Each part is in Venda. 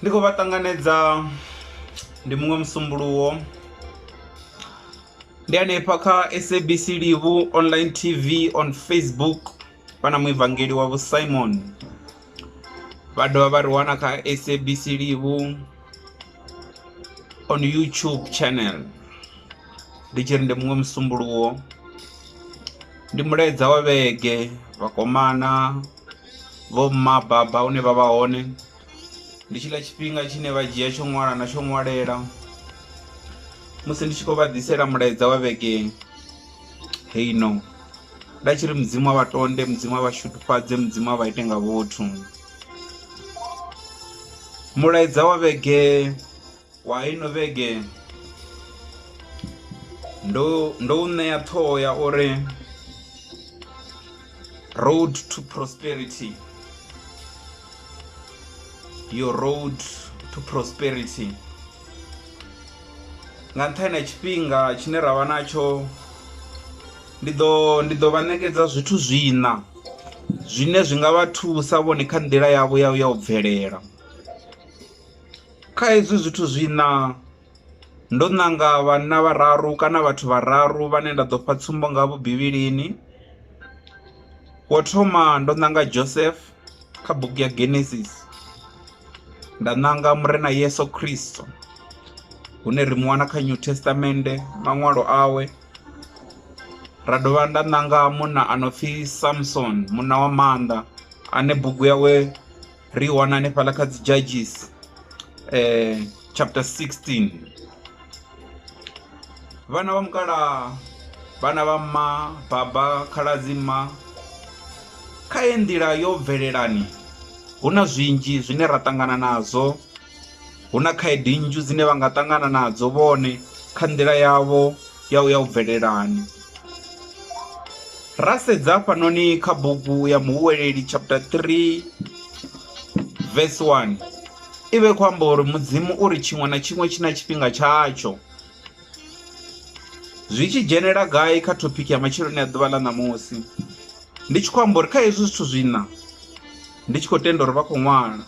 Ndi khou vha ṱanganedza ndi muṅwe musumbuluwo ndi hanefha kha SABC Livhu online T_V on Facebook. vha na muevangeli wa vho Simon vha dovha vha ri wana kha SABC Livhu on YouTube channel ndi tshi ri ndi muṅwe musumbuluwo ndi mulaedza wa vhege vhakomana vho mma baba une vha vha hone ndi tshiḽa tshifhinga tshine vha dzhia tsho ṅwala na tsho ṅwalela musi ndi tshi khou vha ḓisela mulaedza wa vhege Hey no nda tshi ri mudzimu a vha tonde mudzimu a vha shudufhadze mudzimu a vha ite nga vhuthu mulaedza wa vhege wa ino vhege ndo ndo u ṋea ṱhoho ya uri road to prosperity your road to prosperity nga nṱhani ha tshifhinga tshine ra vha natsho ndi ḓo ndi ḓo vha ṋekedza zwithu zwiṋa zwine zwi nga vha thusa vhone kha nḓila yavho ya ya u bvelela kha hezwi zwithu zwiṋa ndo ṋanga vhanna vhararu kana vhathu vhararu vhane nda ḓo fha tsumbo ngavho bivhilini wo thoma ndo ṋanga Joseph kha bugu ya Genesis nda ṋanga murena Yesu Kristo hune ri mu wana kha New Testament maṅwalo awe ra dovha nda ṋanga munna a no pfhi Samson munna wa maanḓa ane bugu yawe ri i wana hanefhaḽa kha dzi Judges . chapter 16 vhana vha mukalaha vhana vha mma baba khaladzi mma kha ye nḓila yo bvelelani hu na zwinzhi zwine ra ṱangana nazwo hu na khaedu nnzhi dzine vha nga ṱangana nadzo vhone kha nḓila yavho ya u ya u bvelelani ra sedza hafhanoni kha bugu ya muhuweleli chapter 3 verse 1 i vha i khou amba uri mudzimu uri tshiṅwe na tshiṅwe tshi na tshifhinga tshatsho zwi tshi dzhenelela gai kha topic ya matsheloni a ḓuvha ḽa ṋamusi ndi tshi khou amba uri kha hezwi zwithu zwina ndi tshi khou tenda uri vha khou ṅwala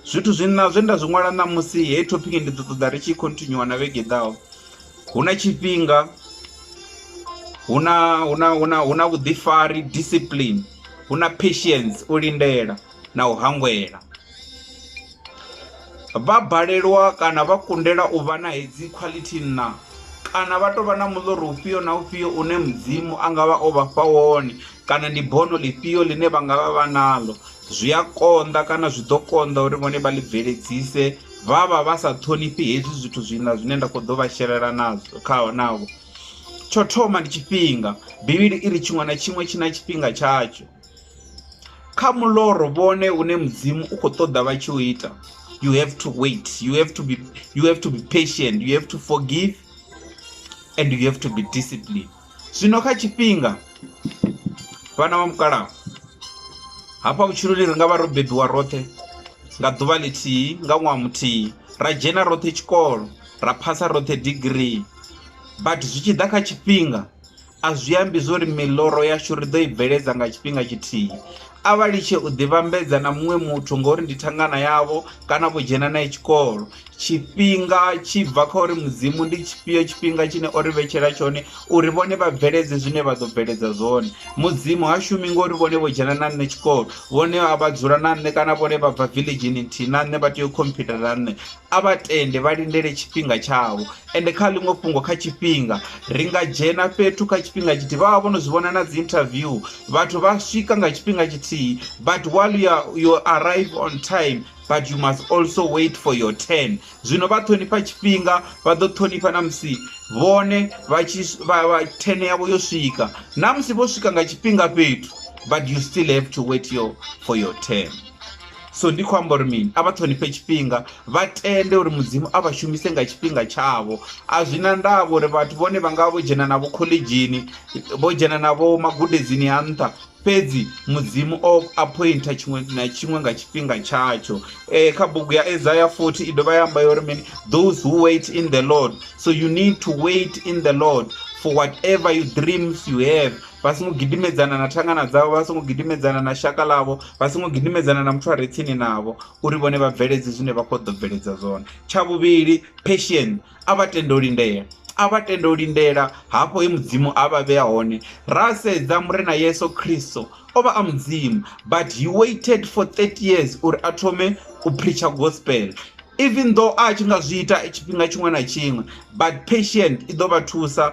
zwithu zwina zwe nda zwi ṅwala ṋamusi heyi topic ndi ḓo ṱoḓa ri tshi khontinyuwa na vhege ḓaho hu na tshifhinga hu na hu na hu na hu na vhuḓifari discipline hu na patience u lindela na u hangwela. Vha balelwa kana vha kundela u vha na hedzi khwaḽithi nṋa kana vha tou vha na muḽoro ufhio na ufhio une mudzimu a nga vha o vha fha wone kana ndi bono ḽifhio ḽine vha nga vha vha naḽo zwi a konḓa kana zwi ḓo konḓa uri vhone vha ḽi bveledzise vha vha vha sa ṱhonifhi hezwi zwithu zwiṋa zwine nda khou ḓo vha shelela nazwo khaho navho tsho thoma ndi tshifhinga bivhili i ri tshiṅwe na tshiṅwe tshi na tshifhinga tshatsho kha muloro vhone une mudzimu u khou ṱoḓa vha tshi u ita you have to wait you have to be you have to be patient you have to forgive and you have to be discipline zwino kha tshifhinga vhana vha mukalaha hafha vhutshiloni ri nga vha ro bebiwa roṱhe nga ḓuvha ḽithihi nga ṅwaha muthihi ra dzhena roṱhe tshikolo ra phasa roṱhe degree but zwi tshi ḓa kha tshifhinga A zwi ambi zwo ri miḽoro yashu ri ḓo i bveledza nga tshifhinga tshithihi. A vha litshe u ḓivhambedza na muṅwe muthu ngauri ndi thangana yavho kana vho dzhena nae tshikolo. Tshifhinga tshi bva kha uri Mudzimu ndi tshifhio tshifhinga tshine o ri vhetshela tshone uri vhone vha bveledze zwine vha ḓo bveledza zwone. Mudzimu ha shumi ngori vhone vho dzhena na nṋe tshikolo, vhone a vha dzula na nṋe kana vhone vha bva village-ni nthihi na nṋe vha tea u khomphitha na nṋe. a vha tende vha lindele tshifhinga tshavho ende kha ḽiṅwe fhungo kha tshifhinga ri nga dzhena fhethu kha tshifhinga tshithihi vha vha vho no zwi vhona na dzi interview vhathu vha swika nga tshifhinga tshithihi but while you, are, you arrive on time but you must also wait for your turn zwino vha ṱhonifha tshifhinga vha ḓo ṱhonifha na musi vhone vha tshi vha turn yavho yo swika na musi vho swika nga tshifhinga fhethu but you still have to wait your, for your turn so ndi khou amba uri mini a vha ṱhonifhe tshifhinga vha tende uri mudzimu a vha shumise nga tshifhinga tshavho a zwi na ndavha uri vhathu vhone vha nga vho dzhena navho khoḽedzhini vho dzhena navho magudedzini a nṱha fhedzi mudzimu o appointa tshiṅwe na tshiṅwe nga tshifhinga tshatsho um kha bugu ya isaya 40 i dovha ya amba yo uri mini those who wait in the lord so you need to wait in the lord for whatever you dreams you have vha songo gidimedzana na thangana dzavho vha songo gidimedzana na shaka ḽavho vha songo gidimedzana na muthu a re tsini navho uri vhone vha bveledze zwine vha khou ḓo bveledza zwone tsha vhuvhili passion a vha tende u lindela a vha tende u lindela hafho he mudzimu a vha vhea hone ra sedza murena yesu khristo o vha a mudzimu but he waited for 30 years uri a thome u preacher gospel even though a tshi nga zwi ita tshifhinga tshiṅwe na tshiṅwe but patient i ḓo vha thusa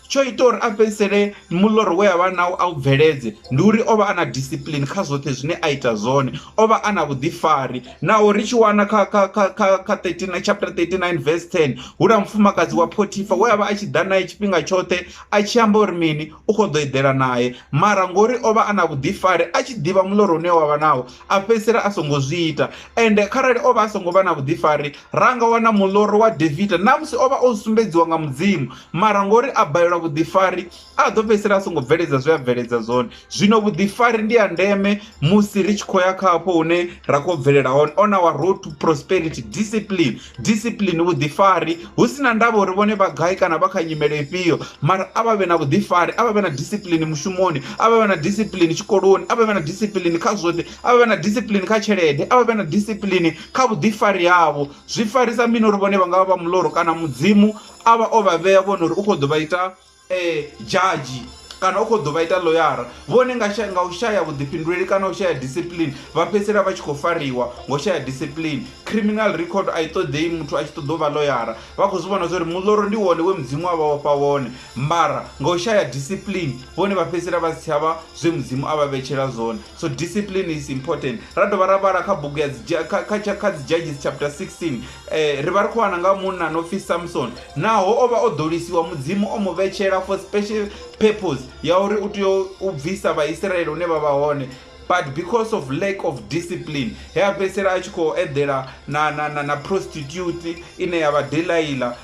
tsho ita uri a fhedzisele muḽoro we a vha nawo a u bveledze ndi uri o vha a na discipline kha zwoṱhe zwine a ita zwone o vha a na vhuḓifari naho ri tshi wana kha kha kha kha kha 39 chapter 39 verse 10 hu na mufumakadzi wa Photifa we a vha a tshi ḓa naye tshifhinga tshoṱhe a tshi amba uri mini u khou ḓo eḓela naye mara ngori o vha a na vhuḓifari a tshi ḓivha muḽoro une wa vha nawo a fhedzisela a songo zwi ita ende kharali o vha a songo vha na vhuḓifari ra nga wana muḽoro wa Davida na musi o vha o sumbedziwa nga mudzimu Mara ngori a balelwa vhuḓifari, a ḓo fhedzisela a songo bveledza zwe a bveledza zwone. Zwino vhuḓifari ndi ha ndeme musi ri tshi khou ya kha hafho hune ra khou bvelela hone, on our road to prosperity. Discipline, discipline, vhuḓifari, hu sina ndavha uri vhone vha gai kana vha kha nyimele ifhio, mara a vha vhe na vhuḓifari, a vha vhe na discipline mushumoni, a vha vhe na discipline tshikoloni, a vha vhe na discipline kha zwoṱhe, a vha vhe na discipline kha tshelede, a vha vhe na discipline kha vhuḓifari havho. Zwi farisa mini uri vhone vha nga vha vha muloro kana mudzimu a vha o vha vhea vhone uri u khou ḓo vha ita um dzhadzhi kana u khou ḓo vha ita loyara vhone nga nga u shaya vhuḓifhinduleli kana u shaya discipline vha fhedzisela vha tshi khou fariwa ngo shaya discipline criminal record a i ṱoḓei muthu a tshi ṱoḓa u vha loyara vha khou zwi vhona zwa uri muḽoro ndi wone we mudzimu a vha vhafha wone mara nga u shaya discipline vhone vha fhedzisela vha si tshavha zwe mudzimu a vha vhetshela zwone so discipline is important ra dovha ra vhala kha bugu kha dzi judges chapter 16 eh, ri vha ri khou wana nga munna no pfi samson naho o vha o ḓolisiwa mudzimu o mu vhetshela for special purpose ya uri u tea u bvisa vhaisraele hune vha vha hone but because of lack of discipline he a fhedzisela a tshi khou eḓela na, na, na, na prostitute ine ya vha delaila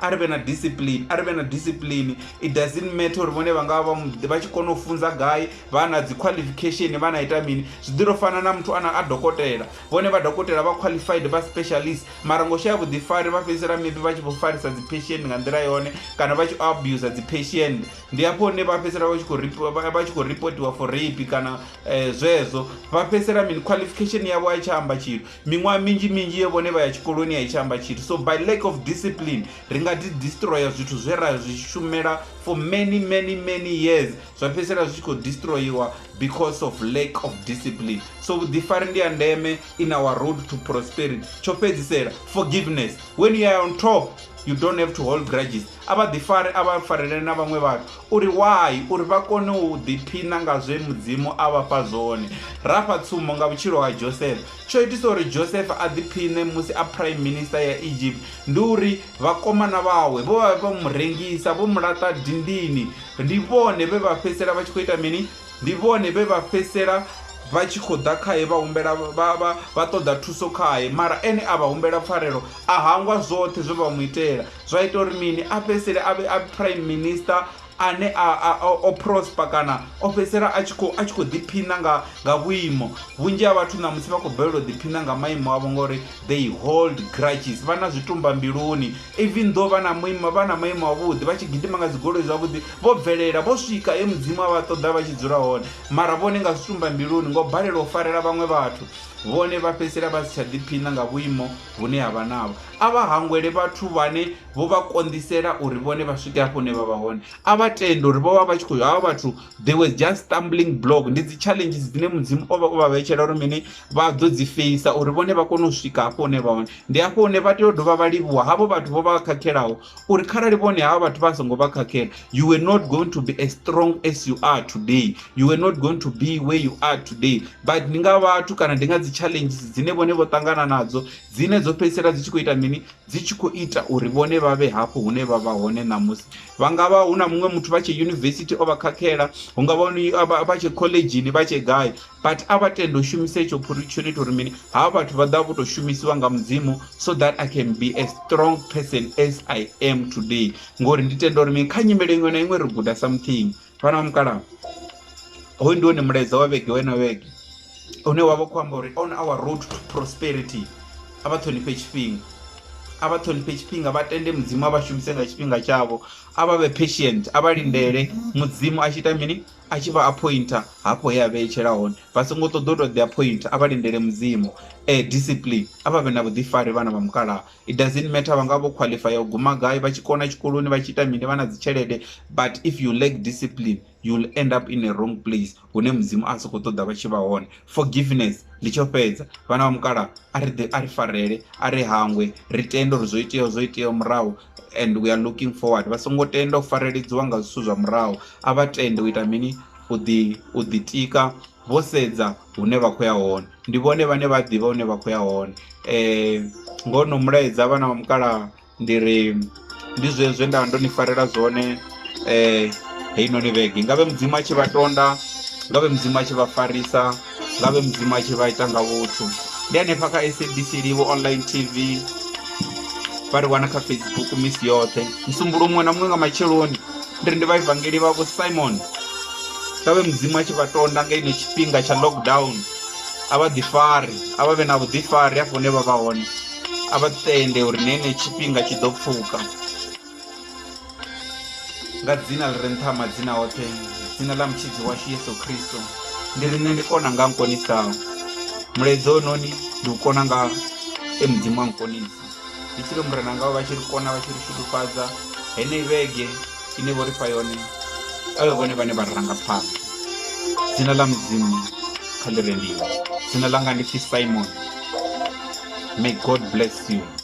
a ri vhe na discipline a ri vhe na discipline it doesn't matter uri vhone vha nga vha vha tshi kona u funza gai vha na dzi qualification vha na ita mini zwi ḓi to fana na muthu ana a dokotela vhone vha dokotela vha qualified vha specialist mara ngo shaya vhuḓifari vha fhedzisela maybe vha tshi vho farisa dzi patient nga nḓila yone kana vha tshi abuser dzi patient ndi hafho hune vha fhedzisela vha tshi khou vha tshi khou reportiwa for rape kana eh, zwezwo vha fhedzisela mini qualification yavho a i tsha amba tshithu Miṅwaha minzhi minzhi ye vhone vha ya tshikoloni a i tsha amba tshithu. So by lack of discipline ri nga ḓi destroyer zwithu zwe ra zwi shumela for many many many years zwa fhedzisela zwi tshi khou destroyiwa because of lack of discipline. So vhuḓifari ndi ya ndeme in our road to prosperity. Tsho fhedzisela forgiveness when you are on top you don't have to hold grudges a vha ḓifare a vha farele na vhaṅwe vhathu uri why uri vha kone u ḓiphina nga zwe mudzimu a vha fha zwone ra fha tsumbo nga vhutshilo ha josefa tsho itisa uri josefa a ḓiphine musi a prime minister ya egypt ndi uri vhakomana vhawe vho vha vha mu rengisa vho mu laṱa dindini ndi vhone vhe vha fhedzisela vha tshi khou ita mini Ndi vhone vhe vha fhedzisela vha tshi khou ḓa khae vha humbela vha vha vha ṱoḓa thuso khae mara ene a vha humbela pfarelo a hangwa zwoṱhe zwe vha mu itela zwa ita uri mini a fhedzisele a vhe a prime minister ane a o prosper kana o fhedzisela a tshi khou a tshi khou ḓiphina nga nga vhuimo vhunzhi ha vhathu ṋamusi vha khou bvelela u ḓiphina nga maimo avho ngori they hold grudges vha na zwitumba mbiluni Even though vha na muimo vha na maimo avhuḓi vha tshi gidima nga dzigoloi zwavhuḓi vho bvelela vho swika e mudzimu a vha ṱoḓa vha tshi dzula hone mara vhone nga zwitumba mbiluni ngo balelwa u farela vhaṅwe vhathu vhone vha fhedzisela vha si tsha ḓiphina nga vhuimo vhune ha vha navho a vha hangwele vhathu vhane vho vha konḓisela uri vhone vha swike hafho hune vha vha hone a vha tende uri vho vha vha tshi khou havha vhathu they were just stumbling block ndi dzi challenges dzine mudzimu o vha o vha vhetshela uri mini vha ḓo dzi feisa uri vhone vha kone u swika hafho hune vha hone ndi hafho hune vha tea u dovha vha livhuwa havho vhathu vho vha khakhelaho uri kharali vhone havha vhathu vha songo vha khakhela you were not going to be as strong as you are today you were not going to be where you are today but ndi nga vhathu kana ndi nga dzi challenges dzine vhone vho ṱangana nadzo dzine dzo fhedzisela dzi tshi khou ita mini dzi tshi khou ita uri vhone vha vhe hafho hune vha vha hone ṋamusi vha nga vha hu na muṅwe muthu vha tshe yunivesithi o vha khakhela hu nga vha vha tshe khoḽedzhini vha tshe gai but a vha tende u shumisa itsho phuri tsho ni ita uri mini havha vhathu vha ḓa vho tou shumisiwa nga mudzimu so that i can be a strong person as i am today ngori ndi tenda uri mini kha nyimele iṅwe na iṅwe ri guda something vhana vha mukalaha hoyu ndi wone mulaedza wa vhege wena vhege une wa vha khou amba uri on our road to prosperity a vha ṱhonifhe tshifhinga a vha ṱhonifhe tshifhinga vha tende mudzimu a vha shumise nga tshifhinga tshavho a vha vhe patient a vha lindele mudzimu a tshi ita mini a tshi vha appointer hafho he a vheetshela hone vha songo ṱoḓa u to ḓi appointer a vha lindele mudzimu eh discipline a vha vhe na vhuḓifari vhana vha mukalaha it doesn't matter vha nga vho qualify u guma gai vha tshi kona tshikoloni vha tshi ita mini vha na dzi tshelede but if you lack discipline you will end up in a wrong place hune mudzimu a soko ṱoḓa vha tshi vha hone forgiveness ndi tsho fhedza vhana vha mukalaha a ri ḓe a ri farele a ri hangwe ri tende uri zwo iteaho zwo iteaho murahu and we are looking forward vha songo tenda u fareledziwa nga zwithu zwa murahu a vha tende u ita mini u ḓi u ḓitika vho sedza hune vha khou ya hone ndi vhone vhane vha ḓivha hune vha khou ya hone um ngono mulaedza vhana vha mukalaha ndi ri ndi zwezwe nda ndo ni farela zwone heinoni vhege i ngavhe mudzimu a tshi vha tonda ngavhe mudzimu a tshi vha farisa ngavhe mudzimu a tshi vha ita nga vhuthu ndi hanefha kha sabc live online tv vha ri wana kha facebook misi yoṱhe musumbulo muṅwe na muṅwe nga matsheloni ndi ri ndi vha evangeli vha vho simon ngavhe mudzimu a tshi vha tonda nga ino tshifhinga tsha lockdown a vha ḓifari a vha vhe na vhuḓifari hafho hune vha vha hone a vha tende uri na ine tshifhinga tshi ḓo pfhuka nga dzina ḽi re nṱha ha madzina oṱhe dzina ḽa mutshidzi washu yesu khristo ndi ri nṋe ndi kona nga nkonisaho mulaedza ononi ndi u kona nga e mudzimu wa nkonisa ndi tshi ri murena ngao vha tshi ri kona vha tshi ri shudufhadza heneyi vhege ine vho ri fha yone a vhe vhone vhane vha ri ranga phanḓa dzina ḽa mudzimu kha ḽi rendiwa dzina ḽanga ndi pfi simon may god bless you